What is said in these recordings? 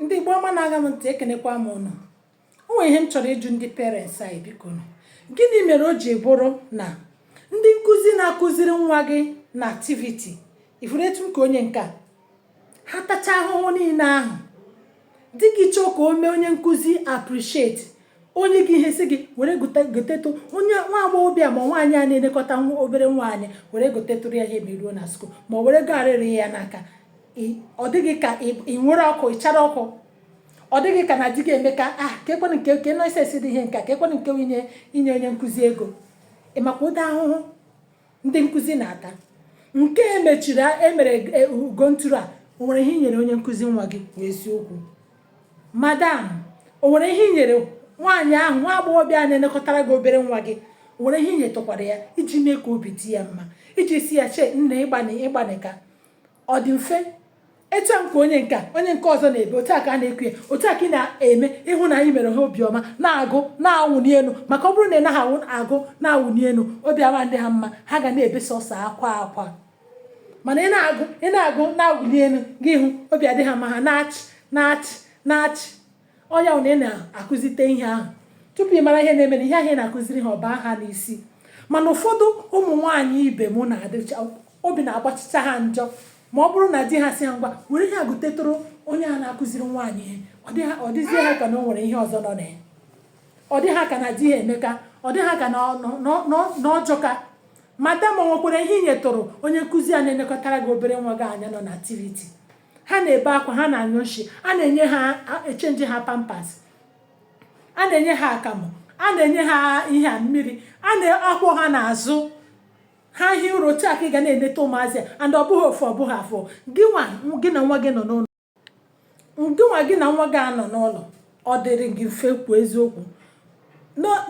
ndị Igbo ọma na-aṅa m ntị ekenekwa m ụnụ o nwere ihe m chọrọ ịjụ ndị parents anyị biko nụ gịnị mere o ji bụrụ na ndị nkụzi na-akụziri nwa gị na activity ifuru etu nke onye nke a ha tacha ahụhụ niile ahụ di gị chọọ ka o mee onye nkụzi appreciate o nye gị ihe sị gị were gotetụ onye nwa agbọghọbịa ma nwaanyị a na-elekọta obere nwa anyị were gotetụrụ ya ihe ma i ruo na skuul ma ọ were garịrị ya n'aka ọ dị gị ka i were ọkụ ị chara ọkụ ọ dị gị ka na di gị emeka a ah, kekwanụ nke unnecessary ihe nke a kekwanụ nke inye onye nkụzi ego ị makwa ụdị ahụhụ ndị nkụzi na-ata nke emechiri emere e, ugo ntụrụ a o nwere ihe i nyere onye nkụzi nwa gị kwuo eziokwu madam o nwere ihe i nyere nwaanyị ahụ nwa agbọghọbịa a na-elekọtara gị obere nwa gị o nwere ihe i nyetụkwara ya iji mee ka obi dị ya mma iji sị ya chee nne ị gbanịka ọ dị mfe etu a nke onye nke a onye nke ọzọ na-ebe otu a ka a na-eku ya otu a ka ị na-eme ịhụ na i mere ha obi ọma na-agụ na-awụni elu maka ọ bụrụ na ị naghị awụ agụ na-awụni elu obi ama adị ha mma ha ga na-ebe sọsọ akwa akwa mana ị na-agụ ị na-agụ na-awụni elu gị hụ obi adị ha mma ha na-achị na-achị na-achị ọ ya na ị na-akụzite ihe ahụ tupu ị mara ihe na-eme na ihe ahụ ị na-akụziri ha ọ baa ha n'isi mana ụfọdụ ụmụ nwaanyị ibe m na-adịcha obi na-agbachicha ha njọ ma ọ bụrụ na di ha sị ha ngwa were ihe a gotetụrụ onye a na-akụziri nwa anyị ihe ọ dịzie ha ka na o nwere ihe ọzọ nọ na ya ọ dị ha ka na di ha emeka ọ dị ha ka na ọ jọka madam o nwekwara ihe i nyetụrụ onye nkụzi a na-elekọtara gị obere nwa gị anya nọ na activity ha na-ebe akwa ha na-anyụ nshi a na-enye ha echenji ha pampas a na-enye ha akamụ a na-enye ha ihe a mmiri a na-akwọ ha n'azụ ha hie ụra otu a ka ị ga na-eneta ụmụazị and ọ bụghị ofu ọ bụghị abụọ gị nwa gị na nwa gị nọ n'ụlọ gị nwa gị na nwa gị anọ n'ụlọ ọ dịrị gị mfe kwuo eziokwu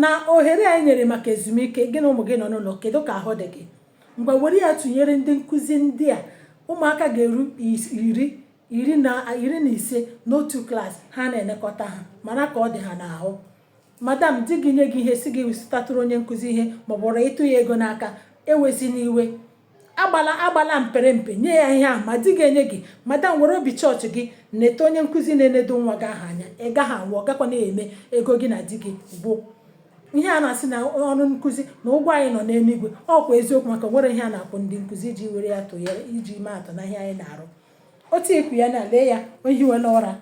na ohere anyị nyere maka ezumike gị na ụmụ gị nọ n'ụlọ kedu ka ahụ dị gị ngwa were ya tụnyere ndị nkụzi ndị a ụmụaka ga-eru iri na ise n'otu klaasị ha na-elekọta ha mara ka ọ dị ha n'ahụ madam di gị nye gị ihe sị gị zụtatụrụ onye nkụzi ihe maọbụ rọ ịtụ ya ego n'aka ewezina iwe agbala agbala mpere mpe nye ya ihe ahụ ma di gị enyeghị madam were obi chọọchị gị neta onye nkụzi na-enedo nwa gị ahụ anya ị gaghị anwụ ọ gakwana eme ego gị na di gị gwụ ihe a na-asị na ọrụ nkụzi na ụgwọ anyị nọ n'eluigwe ọ kwa eziokwu maka nwere ihe a na-akwụ ndị nkụzi iji were ya tụnyere iji mee atụ na ihe anyị na-arụ otu e ku ya na lee ya o hiwela ụra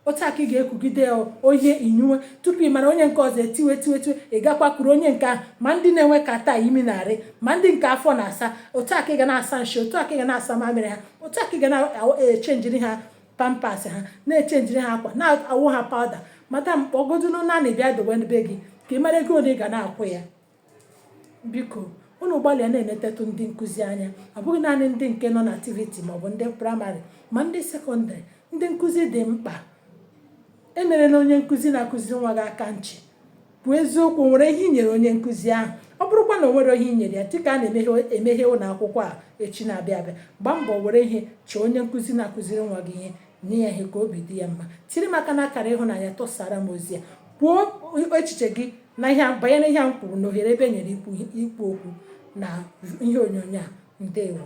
otu a ka ị ga-ekugide onye i nyiwe tupu ị mara onye nke ọzọ etiwe tiwe tiwe ị gakwa kuru onye nke ahụ ma ndị na-enwe catarrh imi na-arị ma ndị nke afọ na-asa otu a ka ị ga na-asa nshi otu a ka ị ga na-asa mamịrị ha otu a ka ị ga na-echenjiri ha pampers ha na-echenjiri ha akwa na-awụ ha powder madam kpọgodunu nanny bịa dowe be gị ka ị mara ego ole ị ga na-akwụ ya biko unu gbalịa na-enetetụ ndị nkụzi anya ọ bụghị naanị ndị nke nọ na activity maọbụ ndị primary ma ndị secondary ndị nkụzi dị mkpa emerela onye nkụzi na-akụziri nwa gị aka nchi bụ eziokwu nwere ihe i nyere onye nkụzi ahụ ọ bụrụkwa na o nwere ihe i nyere ya dịka a na-emeghe ụlọ akwụkwọ a echi na-abịa abịa gbaa mbọ were ihe chọọ onye nkụzi na-akụziri nwa gị ihe nye ya ihe ka obi dị ya mma tiri m aka n'akara ịhụnanya tụsara m ozi a kwuo echiche gị na ihe banyere ihe m kwuru na ohere ebe e nyere ikwu okwu na ihe onyonyo a ndewo